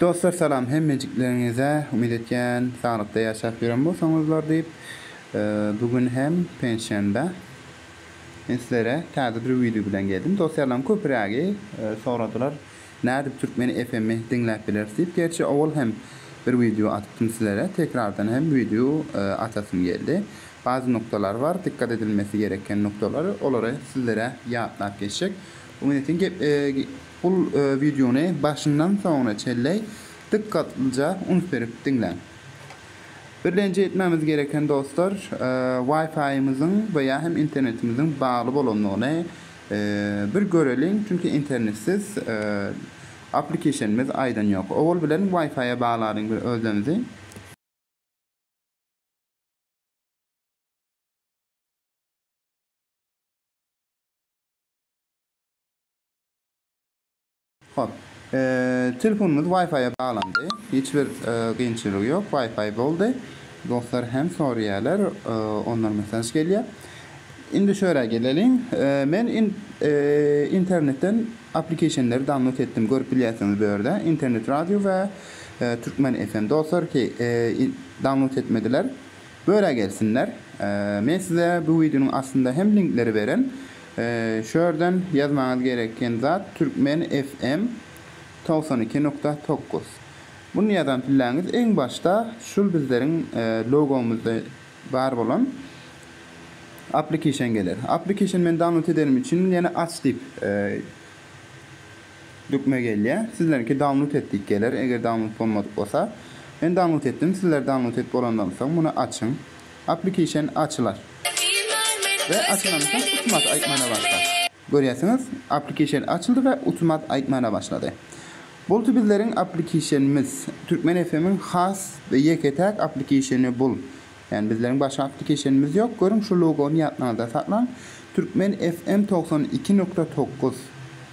Dostlar salam hemmejikleriňize umyt etýän saglykda ýaşap ýören bolsaňyzlar diýip bu gün hem penşenbe men sizlere täze bir wideo bilen geldim dostjarlarym köpürägi soradylar nädip türkmen FM-i diňläp bileris diýip gerçi owal hem bir wideo atypdym sizlere tekrardan hem wideo atasym geldi bazy nukdalar bar dikkat edilmesi gereken nukdalar olary sizlere ýatlap geçjek umyt etýän Bul wideony başyndan soňuna çenli dykgatlyja üns berip diňläň. Birlenje etmämiz gereken dostlar Wi-Fi-ymyzyň we ýa hem internetimiziň bagly bolandygyny bir göreliň, çünki internetsiz aplikesiýonymyz aýdan ýok. Owal bilen Wi-Fi-a baglalyň bir özlemizi. Hop. Telefonymyz Wi-Fi-a baglandy. Hiç bir kynçylygy ýok. Wi-Fi boldy. Dostlar hem soraýarlar. Ondan mesaj gelýär. Indi şörä geleliň. Men internetden applicationleri download etdim. Görüp bilýärsiňiz bu ýerde. Internet radio we Turkmen FM. Dostlar ki download etmediler. Öra gelsinler. Men size bu wideonyň astynda hem linkleri beren. Şu ýerden ýazmaňyz gereken zat Türkmen FM togsan iki nukta tokus. Muny ýazan pilläňiz iň başda şul bizleriň logomyzda bar bolan aplikişen geler. Aplikişeni men download edenim üçin ýene aç diýip Dökme gelýär. Sizlerinki download et diýip geler, eger download bolmadyk bolsa. Men download etdim, sizler download et bolandan soň muny açyň. Application açylar. We açylandan soň utmat aýtmana başlar. Görýärsiňiz, application açyldy we utmat aýtmana başlady. Boldy bizleriň applicationymyz. Türkmen FM-iň has we ýeke-täk applicationy bul. Ýani bizleriň başga applicationymyz ýok. Görüň şu logony ýatlaňyzda saklaň. Türkmen FM togsan iki nokta togguz.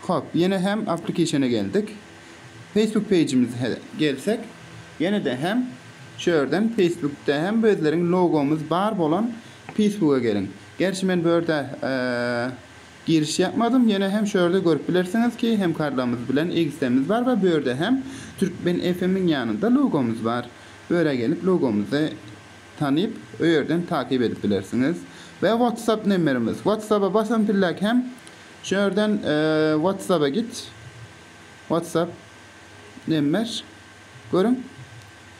Hop, ýene hem application-e geldik. Facebook page-imize gelsek, ýene-de hem şu ýerden Facebook-da hem bizleriň logomyz bar bolan Facebook-a geliň. Gerçi men bu ýerde giriş ýapmadym, ýene hem şu ýerde görüp bilersiňiz ki, hemkarlarymyz bilen XD-miz bar we bu ýerde hem Türkmen FM-iň ýanynda logomyz bar. Bu ýere gelip logomyzy tanyp, öýerden takyp edip bilersiňiz. We WhatsApp nemmerimiz. WhatsApp-a basam pillek hem Şu ýerden WhatsApp-a git. WhatsApp nemmer. Görüň.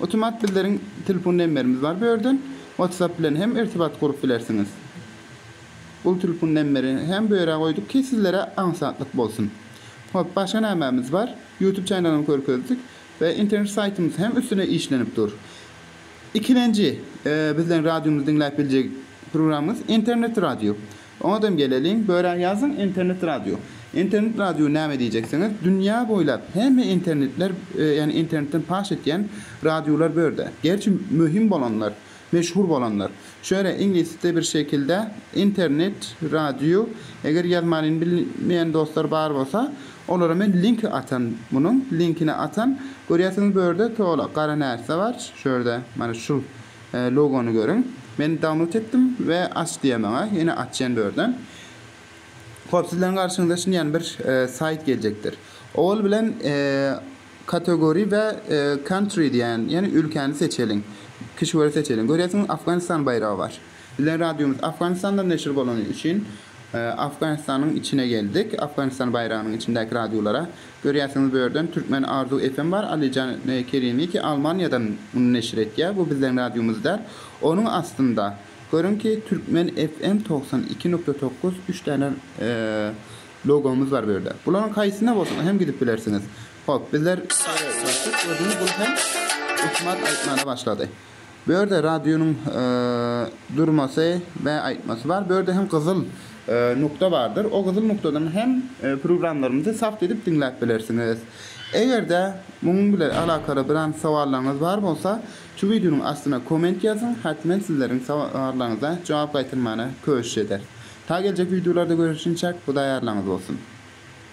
Otomat bizleriň telefon nemmerimiz bar bu ýerden. WhatsApp bilen hem irtibat gurup bilersiňiz. Bu telefon nemmerini hem bu ýere goýduk ki, sizlere aňsatlyk bolsun. Hop, başga nämemiz bar? YouTube çenalyny görkezdik we internet saýtymyz hem üstüne işlenip dur. Ikilenji bizleriň radiomyzy diňläp biljek programmamyz internet radio. Oňadam geleliň, Börä-Ýazyň internet radio. Internet radio näme diýjeksiňiz, dünýä boýlap hemme internetler, ýagny internetden paş etýän radiolar bu ýerde. Gerçi möhüm bolanlar, meşhur bolanlar. Şu ýere iňlisçe bir şekilde internet radio, eger ýazmanyny bilmeýän dostlar bar bolsa, olara men linki atan, munuň linkini atan. Görýärsiňiz bu ýerde tola gara närse bar, şu ýerde, mana şu Logony görüň. Men download etdim we aç diýýär maňa. Ýene açýan bu ýerden. Hop, sizleriň garşyňyza şinýan bir saýt geljekdir. Owal bilen category we country diýýän, ýagny ülkäni seçeliň. Kişweri seçeliň. Görýärsiňiz, Afganistan baýragy bar. Bizleriň radiomyz Afganistanda neşir bolany üçin Afganistanyň içine geldik. Afganistan baýragynyň içindäki radiolara Görýärsiňiz bu ýerden Türkmen Arzu FM bar Alijan Kerimiki Almaniýadan muny neşir etýär bu bizleň radiomyz däl onuň astynda görüňki Türkmen FM togsan iki nukta tokuz üç däne logomyz bar bu ýerde bularyň haýsyna bolsa hem gidip bilersiňiz hop bizler özümiz bunu hem ökümat aýtmana başlady. Bu ýerde radionyň durmasy we aýtmasy bar. Bu ýerde hem gyzyl nukda bardyr. O gyzyl nukdadan hem programlarymyzy sap edip diňläp bilersiňiz. Eger-de munuň bilen alakaly biran sowallaryňyz bar bolsa, şu wideonyň astyna komment ýazyň, hat men sizleriň sowallaryňyza jogap gaýtarmana köşüş ederis. Ta geljek wideolarda görüşinçäk, Hudaý ýarlaňyz bolsun!